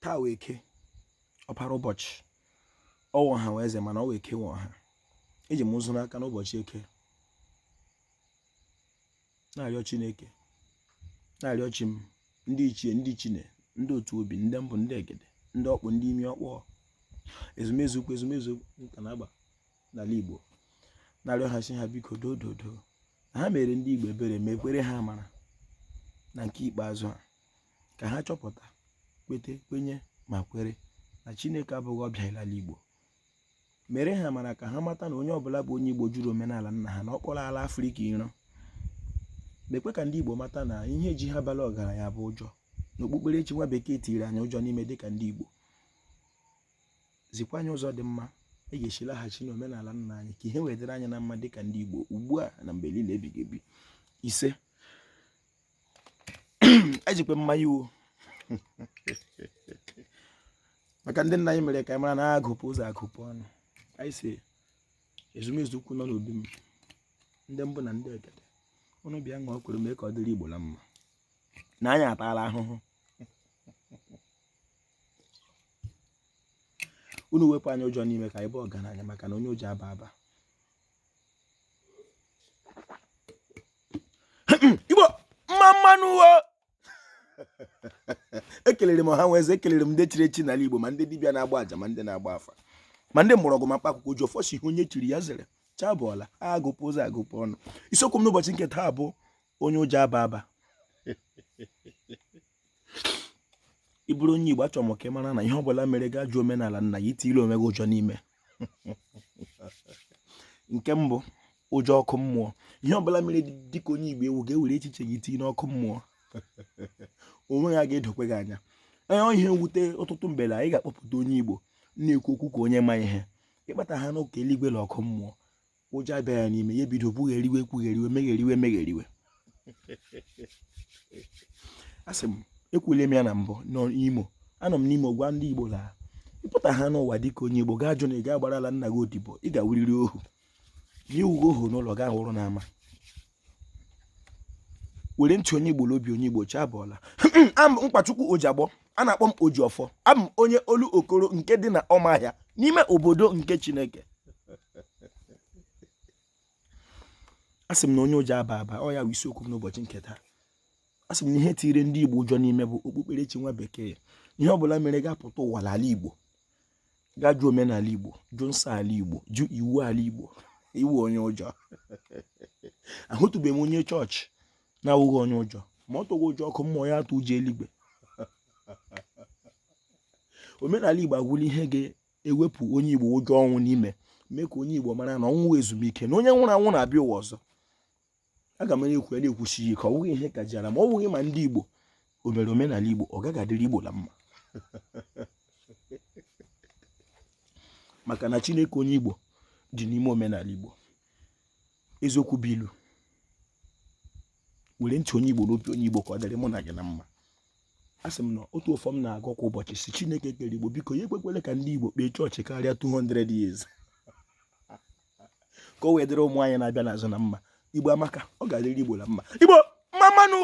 taa wụ eke ọpara ụbọchị ọ wụ ọha nwe eze mana ọ wụ eke nwe ọha eji m nzu n'aka n'ụbọchị eke na-arịọ chineke na-arịọ chi m ndị ichie ndị chine ndị otu obi ndị mbụ ndị egede ndị ọkpụ ndị imi ọkpọ ezumezu ukwu ezumezu nka na agba n'ala igbo na-arịọ ha sị ha biko dododo na ha mere ndị igbo ebere mekwere ha amara na nke ikpeazụ a ka ha chọpụta kwete kwenye ma kwere na chineke abụghị ọbịa n'ala igbo mere ha amara ka ha mata na onye ọbụla bụ onye igbo jụrụ omenala nna ha na ọ kpọrọ ala afrịka iro mekwe ka ndị igbo mata na ihe ji ha bala ọgaranya bụ ụjọ na okpukperechi nwa bekee tiri anyị ụjọ n'ime dịka ndị igbo zikwa anyị ụzọ dị mma e ga-esi laghachi n'omenala nna anyị ka ihe wee dịrị anyị na mma dịka ndị igbo ugbu a na mgbe niile ebighị ebi ise ejikwe m mmanya wo maka ndị nna anyị mere ka anyị mara na agụpụ ụzọ agụpụ ọnụ anyị sị ezumezu ukwu nọ n'obi m ndị mbụ na ndị egede unu bịa ṅụọ kwuru mee ka ọ dịrị igbo na mma na anyị ataala ahụhụ unu wepụ anyị ụjọ n'ime ka anyị baa ọgaranya maka na onye ụjọ aba aba igbo mma mma nụ wo ekelere m ọha nwe eze ekelere m ndị chiri echi n'ala igbo ma ndị dibịa na-agba aja ma ndị na-agba afa ma ndị mgbọrọgwụ ma mkpa akwụkwọ ojiọfọ sị ihe onye chiri ya zere chi abụọla agụpụ ụzọ agụpụ ọnụ isiokwu m n'ụbọchị nke taa bụ onye ụjọ aba aba ị bụrụ onye Igbo achọrọ m ka ị mara na ihe ọbụla mere gị ajụ omenala nna gị i tile onwe gị ụjọ n'ime nke mbụ ụjọ ọkụ mmụọ ihe ọbụla mere dịka onye Igbo ị wụ gị ewere echiche gị tinye n'ọkụ mmụọ o nweghị ihe ga-edokwe gị anya ọ wụ ihe mwute ọtụtụ mgbe na anyị ga-akpọpụta onye Igbo na-ekwu okwu ka onye ma ihe ị kpata ha n'ụka eluigwe na ọkụ mmụọ ụjọ abịa ya n'ime ya ebido kwugheriwe kwugheriwe megheriwe megheriwe asị m ekwule m ya na mbụ n'imo anọ m n'imo gwa ndị igbo na ị pụta ha n'ụwa dịka onye igbo gị ajụ na ị ga-agbara ala nna gị odibo ị ga-awụrịrị ohu na ị wụghị ohu n'ụlọ gị awụrụ n'ama were ntị onye Igbo n'obi onye Igbo chi abụọla a m Nkwachukwu Ojiagbọ a na-akpọ m Ojiọfọ abụ m onye Olokoro nke dị na Ọmahịa n'ime obodo nke Chineke asị m na onye ụjọ aba aba ọ ya bụ isiokwu m n'ụbọchị nke taa asị m na ihe tiri ndị Igbo ụjọ n'ime bụ okpukperechi nwa bekee ihe ọ bụla mere gị apụta ụwa n'ala Igbo ga jụ omenala Igbo jụ nsọ ala Igbo jụ iwu ala Igbo ị wụ onye ụjọ ahụtụbeghị m onye chọọchị na-awụghị onye ụjọ ma ọ tụghị ụjọ ọkụ mmụọ ya atụọ ụjọ eluigwe omenala Igbo agwụla ihe ga-ewepụ onye Igbo ụjọ ọnwụ n'ime mee ka onye Igbo mara na ọnwụ wụ ezumike na onye nwụrụ anwụ na-abịa ụwa ọzọ aga m na-ekwu ya na-ekwusi ya ike ọ bụghị ihe kajara ma ọ bụghị ma ndị Igbo o mere omenala Igbo ọ gaghị adịrị Igbo na mma maka na Chineke onye Igbo dị n'ime omenala Igbo eziokwu bụ ilu were chi onye Igbo nye onye Igbo ka ọ dịrị mụ na gị na mma asị m na otu ọfọ m na-agọ kwa ụbọchị sị Chineke kere Igbo biko ya ekwekwele ka ndị Igbo kpee chọọchị karịa 200 years ka o wee dịrị ụmụ anyị na-abịa n'azụ na mma igbo amaka ọ ga-adịrị igbo na mma igbo mma mma nụ